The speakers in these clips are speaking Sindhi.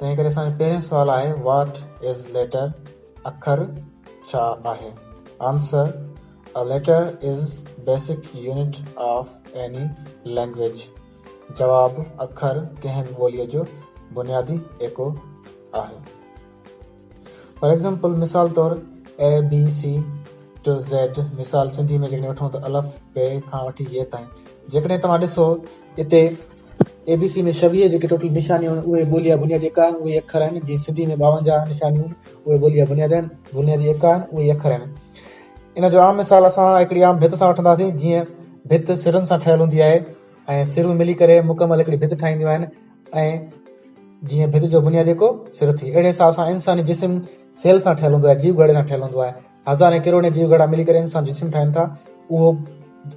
تنهن ڪري اسان جو پهريون سوال آهي واٽ از ليٽر اکر ڇا آهي answer a letter is basic unit of any language جواب اکر ڪنهن به ٻولي جو بنيادي ايڪو آهي فار ايگزامپل مثال طور A B C to Z مثال سنڌي ۾ جيڪڏهن وٺون ته الف بي کان وٺي يي تائين جيڪڏهن توهان ڏسو اتي اي بي سي ۾ شويهه جيڪي ٽوٽل نشانيون آهن اهي ٻوليا بنيادي اڪا آهن اهي اکر آهن جيئن سنڌي ۾ ٻاونجاهه نشانيون اهي ٻوليا بنيادي آهن بنيادي اڪا آهن اهي اکر آهن ان جو عام مثال اسان هڪڙي عام ڀت سان وٺنداسين جيئن ڀت سرن سان ٺهيل هوندي آهي ۽ سرون ملي ڪري مڪمل هڪڙي ڀت ٺاهينديون آهن ۽ جيئن ڀت جو بنياد يڪو سر ٿئي، اهڙي حساب سان انساني جسم سيل سان ٺهيل هوندو آهي، جيو گهڙي سان ٺهيل هوندو آهي. هزارين ڪروڙين جيو گهڙا ملي ڪري انسان جو جسم ٺاهين ٿا. اهو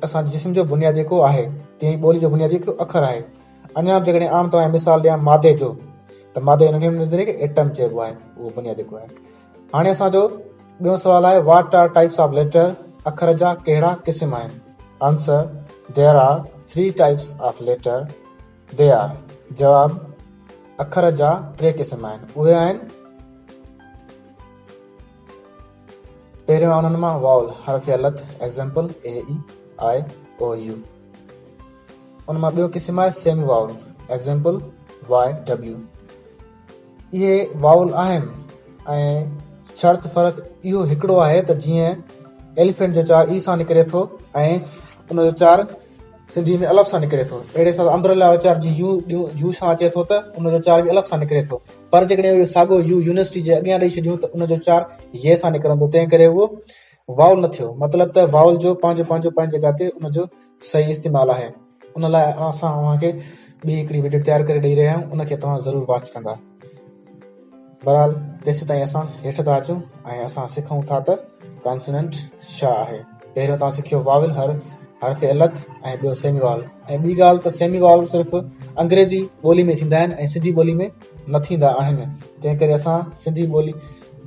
اسان جي جسم جو بنياد يڪو آهي. تيئن ئي ٻولي جو بنياد يڪو اکر آهي. اڃا به جيڪڏهن عام توهان کي مثال ڏيان مادي جو ته مادي جو ننڍي نظريي کي ايٽم چئبو آهي، اهو بنياد يڪو آهي. هاڻي اسان جو ٻيون سوال آهي what are types of letter, اکر جا ڪهڙا قسم آهن؟ Answer, there are three types of letter. ديا، جواب، اکر جا ٽي قسم آهن، اهي آهن، پهريون آهي انهن مان واول، حرف علت، Example، اي، اي، آء، او، يو. ان مان ٻيو قسم آهي semi vowel, Example، Y, W. اهي واول آهن ۽ شرط فرق اهو هڪڙو آهي ته جيئن ايليفينٽ جو چار اي سان نڪري ٿو ۽ ان جو چار سنڌي ۾ الف سان نڪري ٿو اهڙي حساب امبريلا جو چار جي يو يو سان اچي ٿو ته ان جو چار به الف سان نڪري ٿو پر جيڪڏهن اهو ساڳو يو يونيورسٽي جي اڳيان ڏيئي ڇڏيون ته ان جو چار يي سان نڪرندو تنهن ڪري اهو واول نه ٿيو مطلب ته واول جو پنهنجو پنهنجو پنهنجي جڳهه تي ان جو صحيح استعمال آهي ان لاء اسان اوهان کي ٻي هڪڙي وڊيو تيار ڪري ڏئي رهيا آهيون ان کي توهان ضرور واچ ڪندا بهرحال تيستائين اسان هيٺ ٿا اچون ۽ اسان سکون ٿا ته ڪانسوننٽ شا آهي پهريون توهان سکيو واول هر حرف علت ۽ ٻيو سيمي وال ۽ ٻي ڳالهه ته سيمي وال صرف انگريزي ٻولي ۾ ٿيندا آهن ۽ سنڌي ٻولي ۾ نه ٿيندا آهن تنهن ڪري اسان سنڌي ٻولي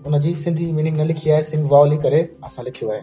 ان جي سنڌي ميننگ نه لکي آهي سيمي واول ئي ڪري اسان لکيو آهي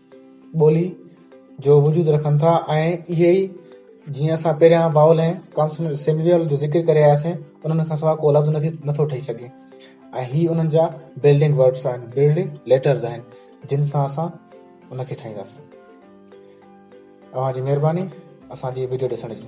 ٻولي جو وجود رکن ٿا ۽ اهي ئي جيئن اسان پهريان واول ۽ ڪانسونينٽ جو ذڪر ڪري آياسين انهن کان سواء ڪو لفظ نٿو ٺهي سگهي ۽ هي انهن جا بلڊنگ ورڊز آهن بلڊنگ ليٽرز آهن جن سان اسان ان کي ٺاهينداسين اوهان جي مهرباني اسان جي ويڊيو ڏسڻ جي